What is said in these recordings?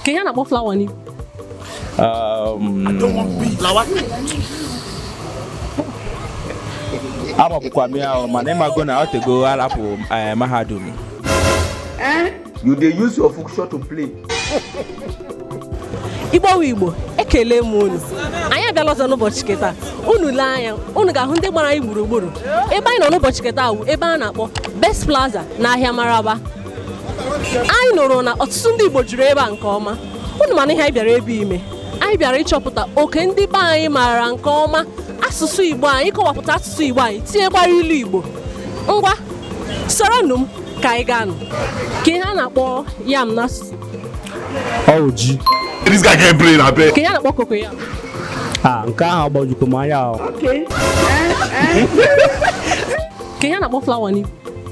kee ihe a na-akpọ flower n'Igbo amapụkwa m ya ahụ mana ịmago na ọ tego arapụ eh, mahadum You dey use your function to play. igbo wụ igbo ekele m unu anyị abịala ọzọ n'ụbọchị ke taa unu lee anya unu ga-ahụ ndị gbara anyị gburugburu ebe anyị nọ n'ụbọchị ke taa wụ ebe a na-akpọ best plaza na ahịa maraba anyị nụrụ na ọtụtụ ndị Igbo juru ebe a nke ọma unu manụ ihe anyị bịara ebe a ime anyị bịara ịchọpụta oke ndị be anyị maara nke ọma asụsụ Igbo anyị ịkọwapụta asụsụ Igbo anyị tinyekwara ilu Igbo ngwa soronụ m ka anyị gaanụ kee ihe a na-akpọ yam n'asụsụ ọ wụ ji This guy can't play na bed. kee ihe a na-akpọ cocoyam a nke ahụ agbajikwa m anya ahụ kee ihe a na-akpọ flower n'Igbo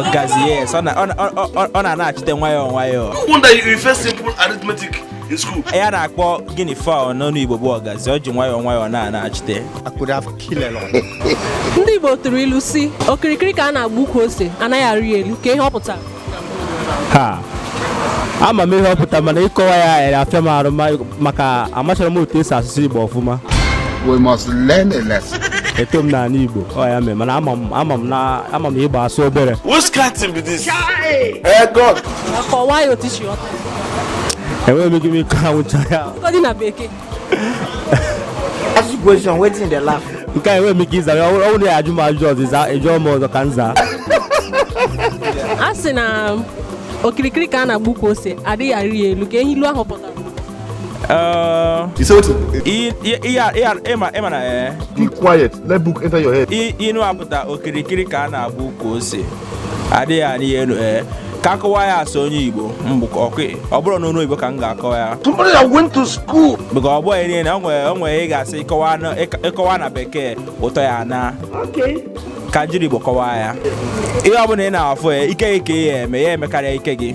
ọgazi yes ọ na-anachite nwayọọ nwayọọ ihe a na-akpọ guinea fowl n'ọnụ Igbo bụ ọgazi ọ ji nwayọọ nwayọọ na-anachite ndị Igbo tụrụ ilu sị okirikiri ka a na-agba ukwu ose anaghị arị elu kee ihe ọ pụtara ha ama m ihe ọ pụtara mana ịkọwa ya ere afịa m arụ ma- maka amacharọ m otu e si asụ asụsụ igbo ọfụma We must learn a lesson. eto m n'anị igbo ọ ya mee mana ama m ama m na ama m igbo asụ obere Eh, God. Kọwaa ya otu i si ghọta. enweghị m ike m ịkọwanwucha ya Ọ dị na bekee. Ask the question, wetin dey laugh. nke a enweghị m ike ịza ya ọ bụrụ na ya ajụ m ajụ ọzọ ịza ị jụọ m ọzọ ka m zaa a sị na okirikiri ka a na-agba ukwu ose adịghị arị ya elu kee ihe ilu ahụ pụtara Uh, Ise otu. i- i- i- ya- ya- ịma ịma na eh, Keep quiet. Let book enter your head. i- inu a pụta okirikiri ka a na-agba ukwu ose adịghị alị ya enu ee ka akọwa ya asụ onye igbo mbụ ka ọkụ ọ bụrụ n'ọnụ igbo ka m ga-akọwa ya Somebody that went to school. maka ọ bụghị niile o nwere o nwere ị ga-asị ịkọwa na- ịk- ịkọwa na bekee ụtọ ya na-aka n'ijiri igbo kọwaa ya ihe ọ bụla ị na-afụ ya ike gị ka ị ya-eme ya emekarịa ike gị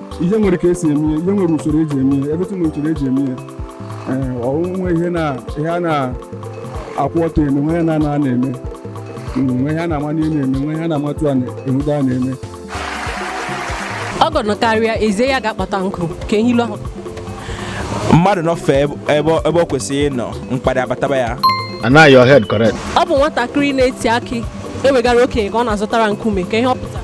ihe nwere ka e si eme ihe nwere usoro eji eme ya ebe nwere usoro eji eme ya o nwe ihe a na-akwụ ọtọ eme nwe ihe a na-anọ ana eme nwe ihe a na-ama n'ihe na-eme nwe ihe a na-amatụ a na-enwude a na-eme ọgọ nọkarịa e zie ya gaa kpata nkụ kee ihe ilu ahụ mmadụ nọfe ebe ọ kwesịrị ịnọ mkparị abataba ya anaghị your head correct ọ bụ nwatakịrị na-eti akị ewegara okenye ka ọ na-azụtara nkume kee ihe ọ pụtara